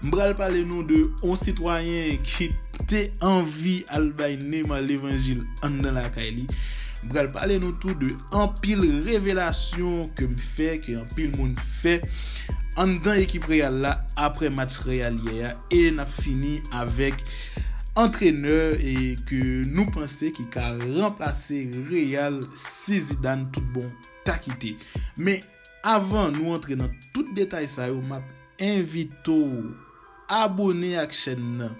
M pral pale nou de yon sitwayen ki te anvi al bay Neymar levanjil anndan lakay li. M pral pale nou tou de anpil revelasyon ke m fè, ke anpil moun fè anndan ekip Real la aprè match Real yè a e n ap fini avèk antrenè e ke nou panse ki ka ranplase Real si Zidane tout bon ta kite. Men avan nou antre nan tout detay sa yo m ap. Envite w abone ak chèn nan,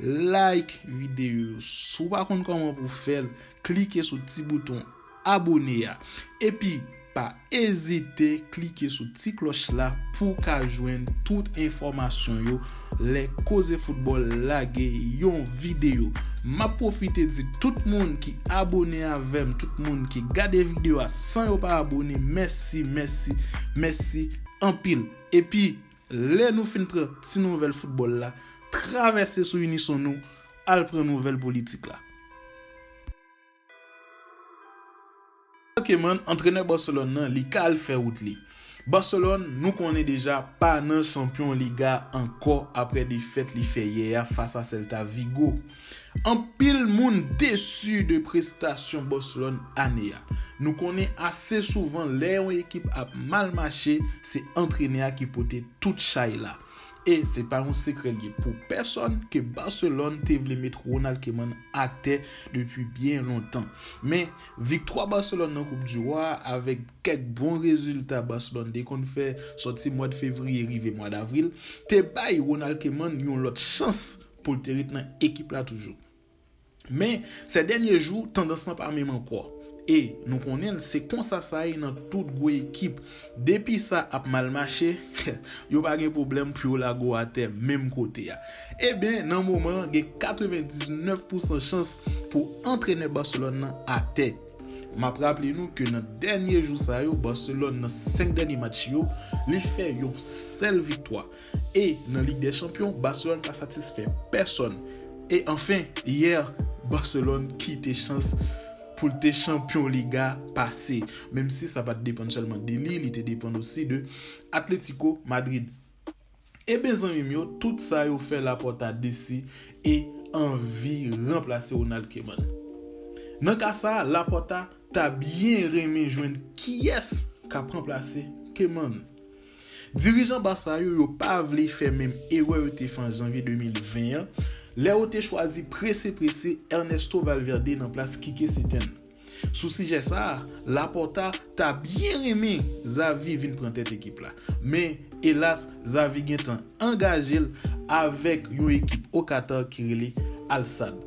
like videyo yo, si w pa konn kòman pou w fè l, klike sou ti bouton abone a, epi pa ezite klike sou ti klòch la pou w ka jwenn tout enfòmasyon yo lè Koze Foutbòl lage yon videyo. M ap pwofite di tout moun ki abone avè m, tout moun ki gade videyo a san yo pa abone, mèsi, mèsi, mèsi anpil! Epi, lè nou fin pran ti nouvèl foutbòl la, travèse sou Unison nou, al pran nouvèl politik la. Kèlkemàn antrenè Barcelone nan, li ka al fè wout li. Barcelone, nou konnen deja, pa nan Chanpyon Liga ankò aprè defèt li fè yè a fas a Celta Vigo. Anpil moun desu de prestasyon Barcelone ane a. Nou konnen ase souvan lè yon ekip ap mal mache se antrenè a ki pote tout chay la. E se pa yon sekrè li ye pou pèsòn ke Barcelone te vle met Ronald Koeman atè depi byen lontan. Men, viktwa Barcelone nan koup di Rwa a avèk kèk bon rezilta Barcelone te konn fè sòti mwad fevriye rive mwad avril te bay Ronald Koeman yon lòt chans pou l te ret nan ekip la toujou. Men, sè dènye jou, tandans lan pa menm ankò. E, nou konnen l, se konsa sa ye nan tout gwo ekip. Depi sa ap mal mache, yo pa gen pwoblèm pou yo lage w atè menm kote a. Eben, nan moman an, gen 99 pousan chans pou antrenè Barcelone lan atè. M ap raple nou ke nan dènye jou sa yo, Barcelone nan 5 dènye match yo, li fè yon sèl viktwa. E nan Lig dè Chanpyon, Barcelone pa satisfè pèsòn. E anfen, yè, Barcelone kite chans pou l te chanpyon Liga pase. Menm si sa pa t depann sèlman de li, li te depann osi de Atlético Madrid. Eben zanmi m yo, tout sa yo fè Laporta desi e anvi ranplase Ronald Koeman. Nan ka sa, Laporta ta byen renmen jwenn kiyès k ap ranplase Koeman. Dirijan Barça yo yo pa vle fè menm erè yo te fè an Janvye 2020 an, lè yo te chwazi prese prese Ernesto Valverde nan plas Kike Setyen. Sou sijè sa a, Laporta ta byen renmen Xavi vin pran tèt ekip la. Men, elas, Xavi gentan angaje l avèk yon ekip o Katar ki rele Al Sadd.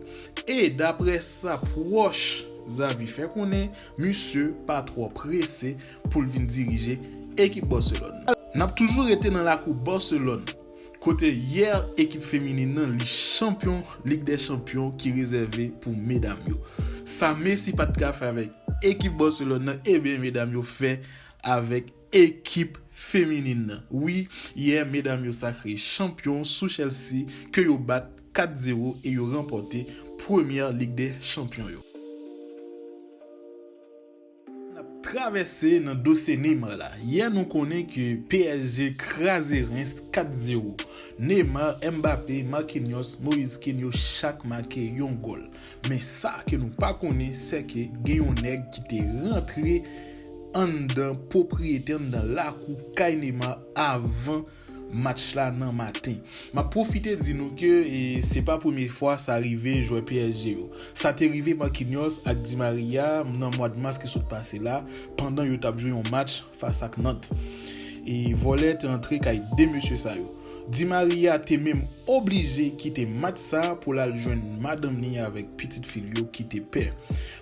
E, daprè sa pwòch Xavi fè konnen, misye pa twò prese pou l vin dirije ekip Barcelone nan. N ap toujou rete nan lakou Barcelone, kote yè ekip feminin nan li chanpyon Lig dè Chanpyon ki rezève pou medam yo. Sa Messi pa t ka fè avèk ekip Barcelone nan, eben medam yo fè avèk ekip feminin nan. Wi, yè medam yo sakre chanpyon sou Chelsea ke yo bat 4 zero e yo ranpòte premyè Lig dè Chanpyon yo. N ap travèse nan dosye Neymar la. Yè nou konnen ke psg kraze Reims 4 zero. Neymar, Mbappé, Marquinhos, Moise Kean yo chak make yon gòl. Men sa ke nou pa konnen se ke gen yon nèg ki te rantre anndan pwopriyete anndan lakou kay Neymar avan Match la nan maten. Map pwofite di nou ke se pa premye fwa sa rive jwè psg yo. Sa te rive Marquinhos ak Di Maria nan mwad mas ki sot pase la pandan yo tap jwe yon match fas ak Nantes. E vòlè te antre kay 2 mesye sa yo. Di Maria te menm oblije kite match sa pou l al jwenn madanm li avèk pitit fi l yo ki te pè.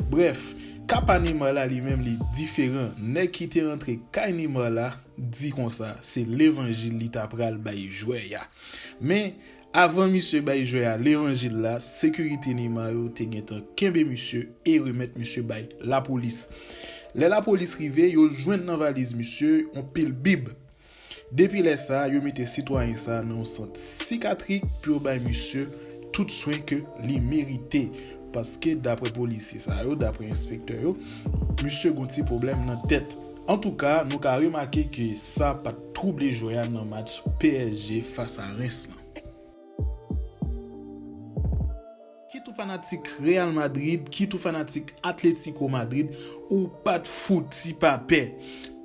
Brèf, ka pa Neymar la li menm li diferan. Nèg ki te antre kay Neymar la, di konsa se levanjil li ta pral bay jwè a. Men, avan misye bay jwè a levanjil la, sekirite Neymar yo te gentan kenbe misye e remèt misye bay lapolis. Lè lapolis rive, yo jwenn nan valiz misye yon pil bib. Depi lè sa, yo mete sitwayen sa nan yon sant sikatrik pou yo bay misye tout swen ke li merite. Paske daprè polisye sa yo, daprè enspektè yo, misye gon ti pwoblèm nan tèt. Antouka, nou ka remake ke sa pat twouble jwè a nan match psg fas a Reims lan. Kit ou fanatik Real Madrid, kit ou fanatik Atletico Madrid, ou pat fouti pa pè.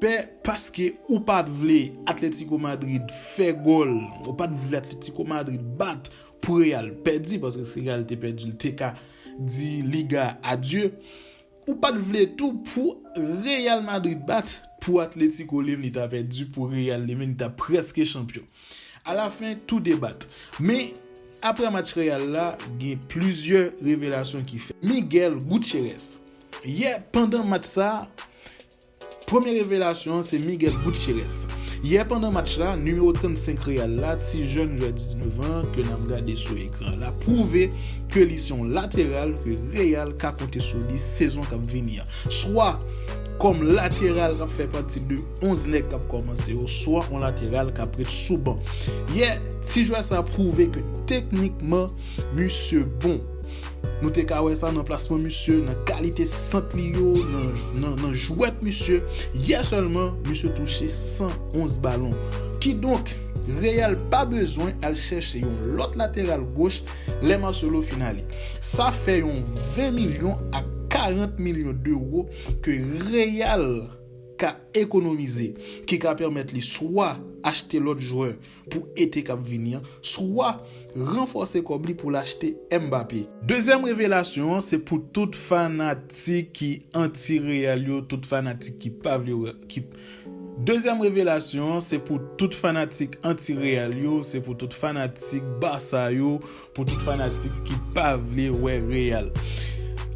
Pè paske ou pat vle Atletico Madrid fè gòl, ou pat vle Atletico Madrid bat pou Real pèdi, paske si Real te pèdi l te ka di Liga a adye. Ou pat vle tou pou Real Madrid bat pou Atletico lem li ta pèdi pou Real li menm li ta prèske chanpyon. A la fen tou 2 bat. Men aprè match Real la gen plizyè revelasyon ki fèt. Miguel Gutierrez yè pandan match sa. Premye revelasyon an se Miguel Gutierrez. Yè pandan match la, nimewo 35 Real la, ti jèn jwè 19 an ke nap gade sou ekran la pwouve ke li se yon lateral ke Real ka konte sou li sezon kap vini an. Swa kòm lateral kap fè pati de 11 nèg kap kòmanse yo, swa yon lateral kap ret sou ban. Yè, ti jwè sa pwouve ke teknikman misye bon. Nou te ka wè sa nan plasman misye, nan kalite sant li yo, nan jwèt misye. Yè sèlman, misye touche 111 balon. Kidonk, Real pa bezwen al chèche yon lòt lateral goch lè Marcelo fin ale. Sa fè yon 20 milyon a 40 milyon dewo ke Real ka ekonomize, ki ka pèmèt li swa achte lòt jwè pou ete k ap vini an, swa ranfòse kòb li pou l achte Mbappé. Dezyèm revelasyon an se pou tout fanatik ki anti Real yo, tout fanatik ki pa vle wè ki Dezyèm revelasyon an se pou tout fanatik anti Real yo, se pou tout fanatik Barça yo, Pou tout fanatik ki pa vle wè Real.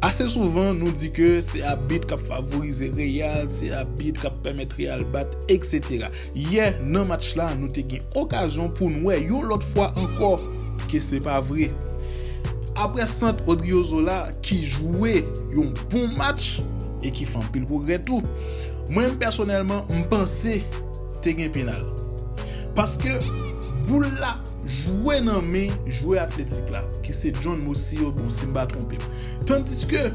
Ase souvan nou di ke se abit kap favorize Real, se abit kap pèmèt Real bat etc. Yè nan match la nou te gen okazyon poun wè yon lòt fwa ankò ke se pa vre. Aprè sant Odriozola ki jwe yon bon match e ki fè anpil pwogrè tou. Mwen menm pèsonèlman m panse te gen penal. Paske boul la. Jwe nan men jwè Atletik la, ki se John Mosiyogun si m pa twonpe m. Tandiske,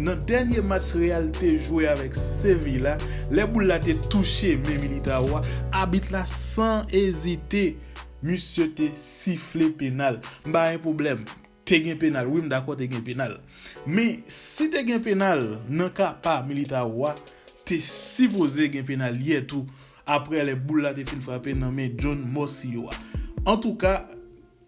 nan dènye match Real te jwe avèk Seville la, lè boul la te touche men Militao a, abit la san ezite, misye te sifle penal. M pa gen pwoblèm. Te gen penal wi m dakò te gen penal men si te gen penal nan ka pa Militao a te sipoze gen penal yè tou aprè lè boul la te fin frape nan men John Morcillo a antouka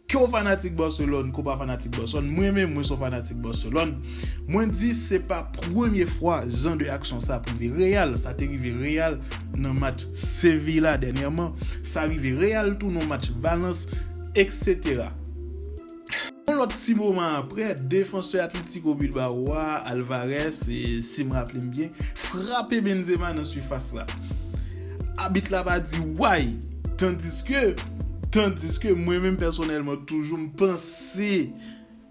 ke w fanatik Barcelone ke w pa fanatik Barcelone mwen menm mwen se yon fanatik Barcelone mwen di se pa premye fwa jan de aksyon sa ap rive Real sa te rive Real nan match Seville la dènyèman sa rive Real tou nan match Valence eksetera. Yon lòt ti moman aprè, defansè Atlético Bilbao a, Alvarez, si m raple m byen, frape Benzema nan sifas la. Abit la pa di way! Tandiske, tandiske mwen menm pèsonèlman toujou m panse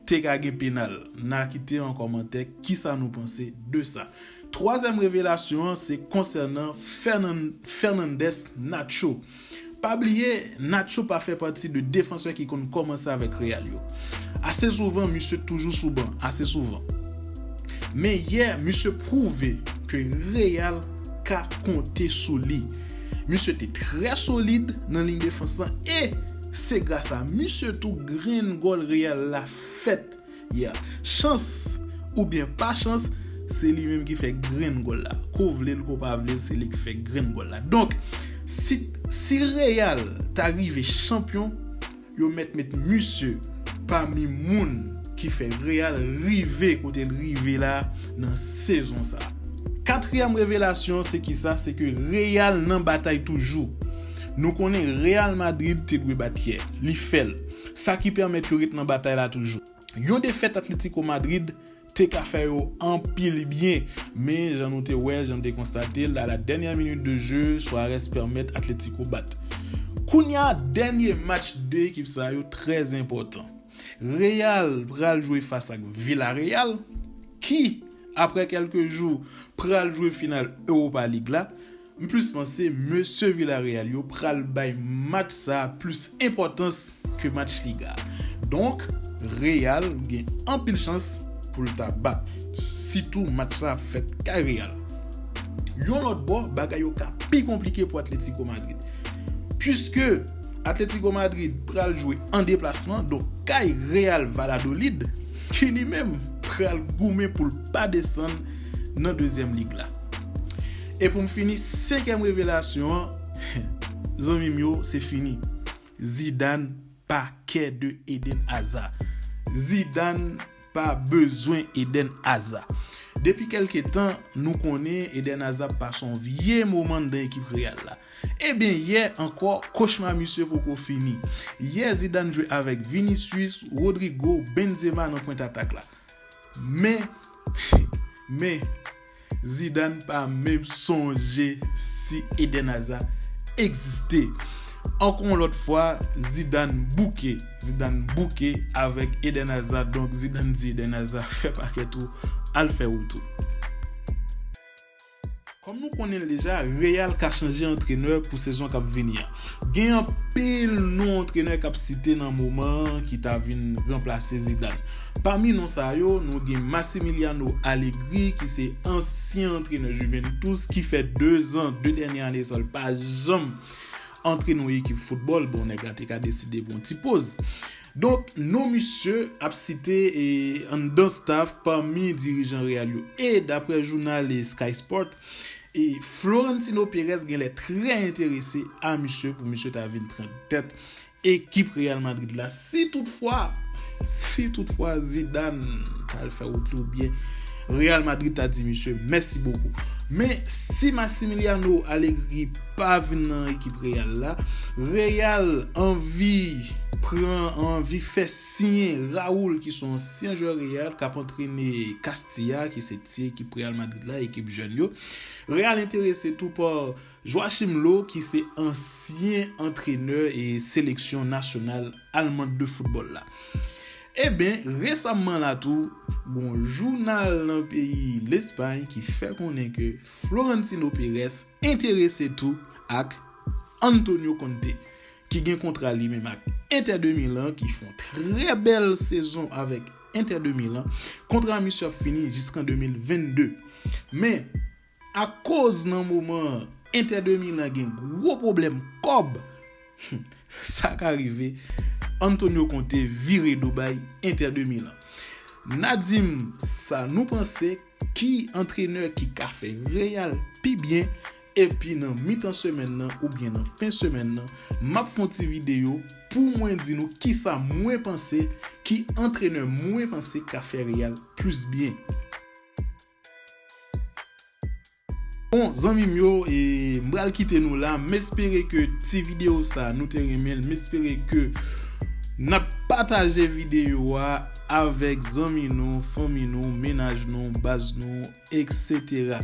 te ka gen penal. N a kite an kòmantè kisa nou panse de sa. Twazyèm revelasyon an se konsènan Fernandez Nacho. Pa bliye, Nacho pa fè pati de defansè ki konn kòmanse avèk Real yo. Ase souvan, misye toujou sou ban, ase souvan. Men yè, misye pwouve ke Real ka konte sou li. Misye te trè solid nan liy defans lan e se gras a misye tou grenn gòl Real la fèt. Yeah. Chans ou byen pa chans, se li menm ki fè grenn gòl la. Ke w vle l ke w pa vle l, se li ki fè grenn gòl la. Donk, si si Real ta rive chanpyon, yo mèt met misye pami moun ki fè Real rive kote l rive la nan sezon sa. Katriyèm revelasyon an se kisa? Se ke Real nan batay toujou. Nou konnen Real Madrid te dwe bat yè. Li fè l. sa ki pèmèt yo ret nan batay la toujou. Yon defèt Atlético Madrid te ka fè yo anpil byen, men jan nou te wè l, jan nou te konstate l, a la dènyè minit de je, Suarez pèmèt Atlético bat. Kounye a, dènye match 2 ekip sa yo trè enpòtan. Real pral jwe fas ak Villarreal, ki, aprè kèlke jou, pral jwe final Europa League la. M plis panse mesye Villareal yo pral bay match sa plis enpòtans ke match liga a. Donk Real gen anpil chans pou l ta bat. Sitou match la ap fèt kay Real. Yon lòt bò bagay yo ka pi konplike pou Atlético Madrid. Puiske Atlético Madrid pral jwe an deplasman donk kay Real Valladolid ki li menm pral goumen pou l pa desann nan dezyèm lig la. E pou m fini, senkèm revelasyon an, zanmi m yo, se fini. Zidane pa kè de Eden Hazard. Zidane pa bezwen Eden Hazard. Depi kèlke tan, nou konnen Eden Hazard pase yon vye moman nan ekip Real la. Eben, yè ankò, kochma misye poko fini. Yè Zidane jwe avèk Vinicius, Rodrygo, Benzema nan pwent atak la. Men, men. Zidane pa menm sonje si Eden Hazard egziste. Ankò yon lòt fwa, Zidane bouke. Zidane bouke avèk Eden Hazard donk Zidane di Eden Hazard fè pakèt ou, al fè wout ou. Kòm nou konnen l deja, Real ka chanje antrenè pou sezon k ap vini an. Gen anpil non antrenè k ap site nan moman an ki ta vin ranplase Zidane. Pami non sa yo, nou gen Massimiliano Allegri ki se ansyen antrenè Juventus ki fè 2 zan, 2 dènye ane sa l pa janm antre nan yon ekip foutbòl, bon nèg la te ka deside pran yon ti poz. Donk non misye ap site anndan staf pami dirijan Real yo. E daprè jounal Sky Sport, E Florentino Perez genlè trè enterese a misye pou misye ta vin pran tèt ekip Real Madrid la si tout fwa si tout fwa Zidane ta al fè wout li oubyen Real Madrid ta di misye mèsi bokou. Men si Massimiliano Allegri pa vin nan ekip Real la, Real anvi pran anvi fè siyen Raul ki son ansyen jwè Real kap antrene Castilla ki se ti ekip Real Madrid. la, ekip jèn yo. Real enterese tou pa Joachim Low ki se ansyen antrenè e seleksyon nasyonal almand de foutbòl la. Eben, resamman la tou, gon jounal nan peyi Lespay ki fè konnen ke Florentino Perez enterese tou ak Antonio Conte. ki gen kontra li menm ak Inter de Milan ki fon trè bèl sezon avèk Inter de Milan, kontra misye ap fini jiskan 2022. Men, akoz nan moman an Inter de Milan gen gwo pwoblèm kòb, sa ka rive Antonio Conte vire do bay Inter de Milan. N a di m sa nou panse, ki antrenè ki ka fè Real pi byen Epi nan mitan semèn nan oubyen nan fen semèn nan, m ap fè yon ti videyo pou mwen di nou kisa mwen panse, ki antrenè mwen panse ka fè Real plis byen. Bon zanmi m yo, m pral kite nou la. M espere ke ti videyo sa nou te renmen l. M espere ke n ap pataje videyo a avèk zanmi nou, fanmi nou, menaj nou, baz nou, eksetera.